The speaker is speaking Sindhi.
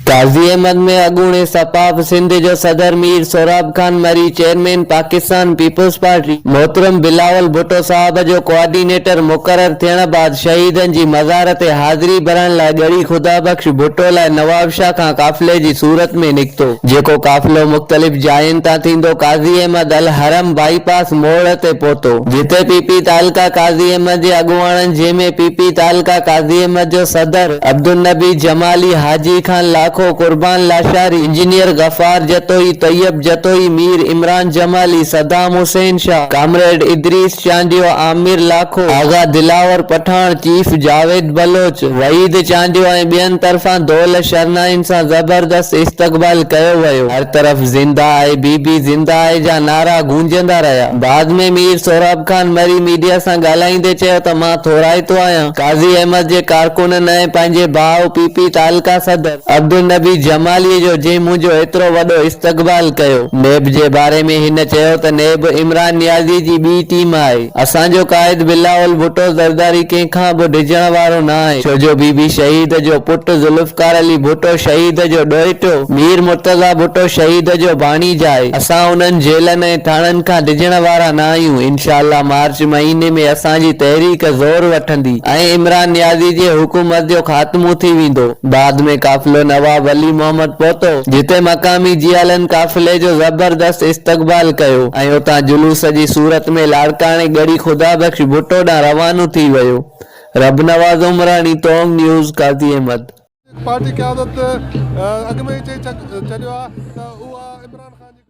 قاضي احمد ۾ اڳوڻي سپاء پ سنڌ جو صدر Mir Sohrab Khan Marri, chairman Pakistan peoples party محترم بلاول ڀٽو صاحب جو ڪوآرڊينيٽر مقرر ٿيڻ بعد شهيدن جي مزار تي حاضري ڀرڻ لاء ڳڙهي خدا بخش ڀٽو لاء نوابشاهه کان قافلي جي صورت ۾ نڪتو، جيڪو قافلو مختلف جاين تان ٿيندو قاضي احمد الحرم بائي پاس موڙ تي پهتو. جتي پي پي تعلقه قاضي احمد جي اڳواڻن جنهن ۾ پي پي تعلقه قاضي احمد جو صدر، Abdul Nabi Jamali, Haji Khan Lakho, Qurban Lashari, engineer Ghaffar Jatoi, Tayyab Jatoi, Mir Imran Jamali, Saddam Hussain Shah, comrade Idrees Chandio, Amir Lakho, Agha Dilawar Pathan, chief Javed Baloch, Waheed Chandio ۽ ٻين طرفان دول شرنائين سان زبردست استقبال ڪيو ويو. هر طرف زنده آهي، بي بي زنده آهي جا نعرا گونجندا رهيا. بعد ۾ مير سهراب خان مري ميڊيا سان ڳالهائيندي چيو ته مان ٿورائتو آهيان، قاضي احمد جي ڪارڪنن ۽ پنهنجي ڀاء پي پي تعلقه صدر عبدالنبي جمالي جو جنهن منهنجو ايترو وڏو استقبال ڪيو. نيب جي باري ۾ هن چيو ته نيب عمران نيازي جي ٻي ٽيم آهي، اسان جو قائد بلاول ڀٽو زرداري ڪنهن کان به ڊڄڻ وارو نه آهي ڇو جو بي بي شهيد جو پٽ ذوالفقار علي ڀٽو شهيد جو ڏوهٽو مير مرتضيٰ ڀٽو شهيد جو ڀاڻيج آهي، اسان انهن جيلن ۽ ٿاڻن کان ڊڄڻ وارا نه آهيون، انشاء الله مارچ مهيني ۾ اسان جي تحريڪ زور وٺندي ۽ عمران نيازي جي حڪومت جو خاتمو ٿي ويندو. بعد ۾ قافلو نواب علي محمد پهتو، جتي مقامي جيالن قافلي جو زبردست استقبال ڪيو ۽ اتان جلوس جي صورت ۾ لاڙڪاڻي ڳڙهي خدا بخش ڀٽو ڏانهن روانو ٿي ويو. رب نواز عمراڻي توم نيوز قاضي احمد. پارٽي قيادت اڳ ۾ ئي چئي ڇڏيو آهي ته اها عمران خان جي.